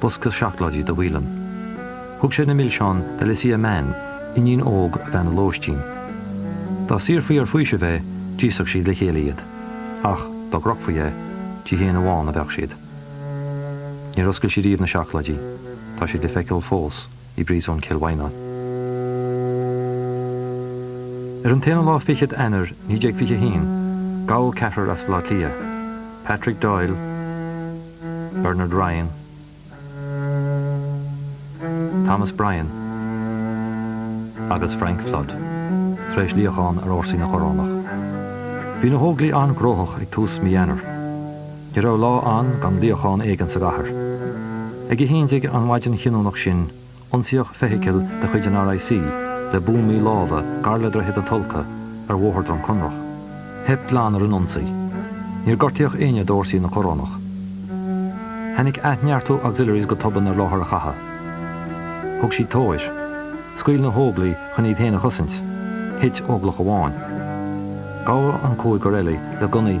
bosca seacláidí do Whelan. Thug sé na milseáin d'Alicia Mann, iníon óg bhean a lóistín. Dá saorfaí ar faoiseamh é, d'íosfadh siad le chéile iad. Ach, dá gcrochfaí é, di féin amháin a bheadh siad. Níor oscail sí riamh na seacláidí. Tá siad le feiceáil fós. i bPríosún Chill Mhaighneáin. Ar an t-aon lá, Fichead Eanáir 1921, gabhadh ceathrar as Bleá Cliath, Patrick Doyle, Bernard Ryan, Thomas Bryan agus Frank Flood, tar éis luíochán ar fhórsaí na Corónach. Bhí na hÓglaigh an-gnóthach ag tús mí Eanáir. Ní raibh lá ann gan luíochán éigin sa gcathair. Ag a haon déag an mhaidin chinniúnach sin, ionsaíodh feithicil de chuid an RIC le buamaí láimhe gar le Droichead na Tulcha ar Bhóthar Dhrom Conrach. Theip glan ar an ionsaí. Níor gortaíodh éinne d'fhórsaí na Corónach. Tháinig athneartú Auxiliaries go tobann ar láthair an chatha. Thug siad tóir. Scaoil na hÓglaigh chun iad féin a chosaint. Thit Óglach amháin. Gabhadh an cúigear eile le gunnaí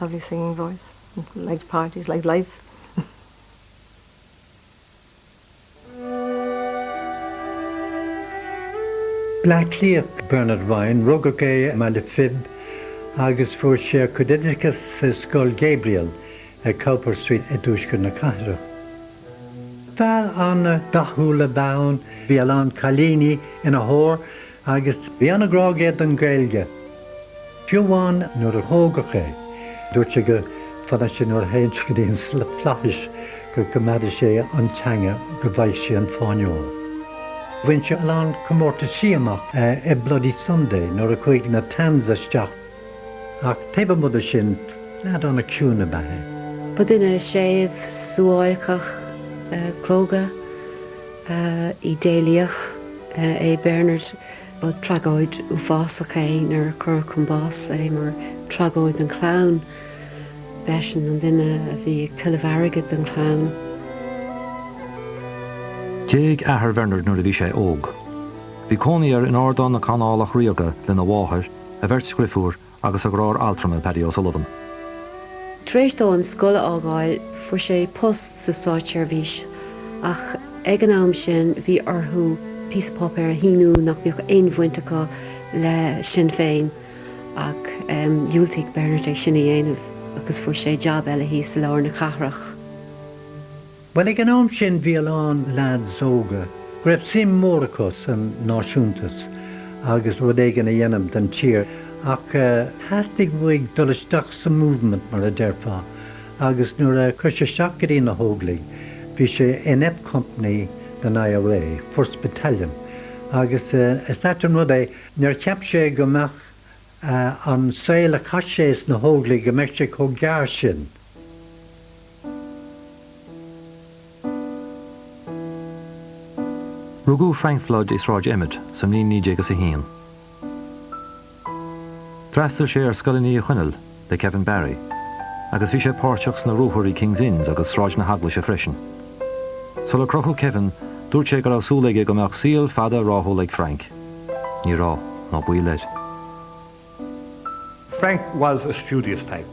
Lovely singing voice. Liked parties, liked life. Bleácliath, Bernard Ryan, rugadh é i mBaile Phib agus fuair sé a chuid oideachais i Scoil Gabriel ar Cowper Street i dtuaisceart na cathrach. Fear an-dathúil a bhí ann, bhí a lán cailíní ina thóir Agus bhí an-ghrá aige don Ghaeilge. Fiú amháin nuair a tógadh é, dúirt sé go fanadh sé nuair a théann sé go dtí an flaithis go gcoimeádaidh sé an teanga go bhfaighidh sé an Fáinne Óir. Bhain sé a lán comórtaisí amach i Bloody Sunday nuair a chuaigh na Tans isteach ach taobh amuigh de sin, leaid an-chiúin ab ea é. Ba duine séimh, suáilceach, cróga. Ba idéalaíoch é Bernard. Ba thragóid uafásach é nuair a cuireadh chun báis é, mar tragóid don chlann. B'eisean an duine a bhí ag tuilleamh airgid don chlann. D'éag athair Bhernard nuair a bhí sé óg. Bhí cónaí air in Ardán na Canálach Ríoga lena mháthair, a bheirt dhrifiúr agus a dheartháir altrama, Paddy O'Sullivan. Tar éis dó an scoil a fhágáil, fuair sé post sa státseirbhís, ach ag an am sin bhí orthu píosa páipéir a shíniú nach mbeadh aon bhaint acu le Sinn Féin, ach dhiúltaigh Bernard é sin a dhéanamh agus fuair sé jab eile thíos i lár na cathrach. Bhuel, ag an am sin bhí a lán leads óga go raibh suim mhór acu san náisiúntas agus rud éigin a dhéanamh don tír ach theastaigh uaidh dul isteach sa Movement, mar a déarfá, agus nuair a chuaigh sé isteach go dtí na hÓglaigh bhí sé in F Company den IRA, First Battalion, agus is ait an rud é, níor cheap sé go mbeadh an saol a chaith sé sna hÓglaigh, go mbeadh sé chomh gearr sin. Rugadh Frank Flood i Sráid Emmet sa mbliain naoi déag is a haon. D'fhreastail sé ar Scoileanna Uí Chonaill le Kevin Barry agus bhí sé páirteach sna ruathair i King's Inns agus Sráid na hEaglaise freisin. Sular crochadh Kevin, dúirt sé go raibh súil aige go mbeadh saol fada ráthúil ag Frank. Ní raibh, ná baol air. Frank was a studious type.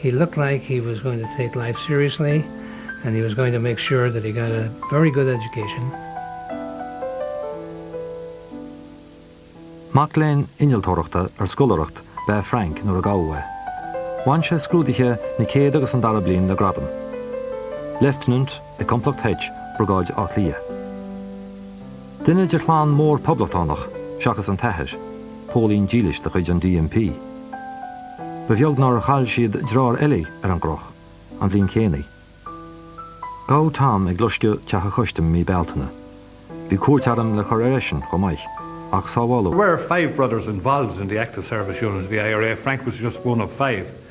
He looked like he was going to take life seriously and he was going to make sure that he got a very good education. Mac léinn innealtóireachta ar scoláireacht ab ea Frank nuair a gabhadh é. Bhain sé scrúduithe na céad agus an dara bliain le gradam Leifteanant i Complacht H, Briogáid Átha Cliath. Duine de chlann mhór Poblachtánach, seachas an t-athair, póilín dílis de chuid an DMP. Ba bheag nár chaill siad deartháir eile ar an gcroch, an bhliain chéanna. Gabhadh Tom ag loscadh Teach an Chustaim mí Bealtaine. Bhí cúirt airm le cur ar eisean chomh maith, ach sábháladh é. There were five brothers involved in the Active Service Unit of the IRA, Frank was just one of five.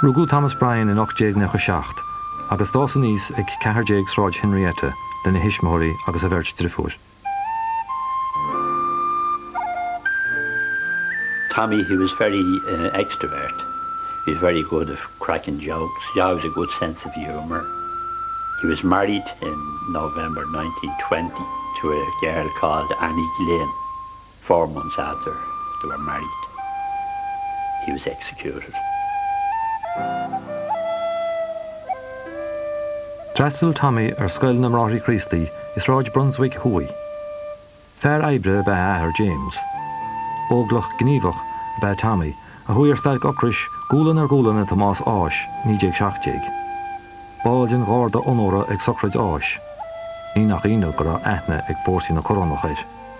Rugadh Thomas Bryan in 1897 agus d'fhás aníos ag 14 Sráid Henrietta lena thuismitheoirí agus a bheirt driofúir. Tommy, he was very extravert, he was very good at cracking jokes, he always had a good sense of humour. He was married in November nineteen twenty to a girl called Annie Glinn. Four months after they were married, he was executed. D'fhreastail Tommy ar Scoil na mBráithre Críostaí i Sráid Brunswick Thuaidh. Fear oibre ab ea a athair James. Óglach gníomhach ab ea Tommy a chuaigh ar stailc ocrais gualainn ar ghualainn le Tomás Ághas, 1917. Ball den gharda onóra ag sochraid Ághais. Ní nach ionadh go raibh aithne ag fórsaí na corónach air.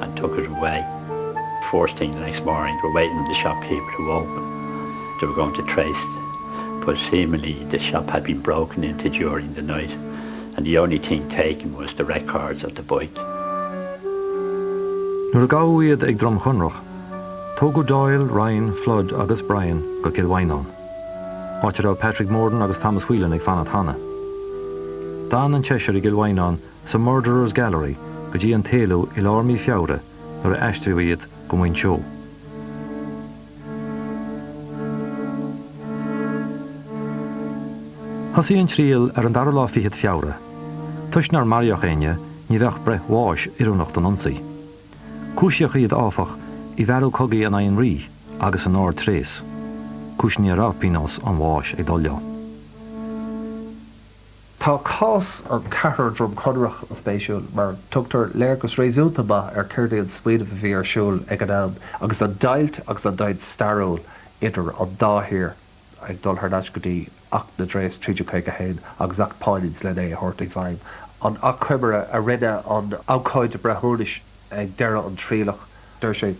and took it away, first thing the next morning, we're waiting on the shop keeper to open, they were going to trace the but seemingly the shop had been broken into during the night and the only thing taken was the records of the bike. Nuair a gabhadh iad ag Droim Chonrach, tógadh Doyle, Ryan, Flood agus Bryan go Cill Mhaighneáin, áit a raibh Patrick Morden agus Thomas Whelan ag fanacht cheana. D'fhan an tseisear i gCill Mhaighneáin sa Murderers Gallery go dtí an t-éalú i lár mí Feabhra nuair a aistríodh iad go Muinseo. Thosaigh an triail ar an dara lá fichead Feabhra. Toisc nár maraíodh éinne, ní bheadh breith bháis oiriúnach don ionsaí. Cúisíodh iad, áfach, i bhfearadh cogaidh in aghaidh an Rí agus in ardtréas, cúiseanna a raibh pionós an bháis ag dul leo. Tá cás an Cheathrair Dhroim Conrach an-spéisiúil mar tugtar léargas réasúnta maith ar céard é an smaoineamh a bhí ar siúl ag an am agus an deighilt agus an deighilt stairiúil idir an dá thír ag dul thar n-ais go dtí Acht na dTréas 1351 agus Acht Poynings len é a thabhairt i bhfeidhm, an achoimre a rinne an abhcóide breithiúnais ag deireadh an trialach, deir sé,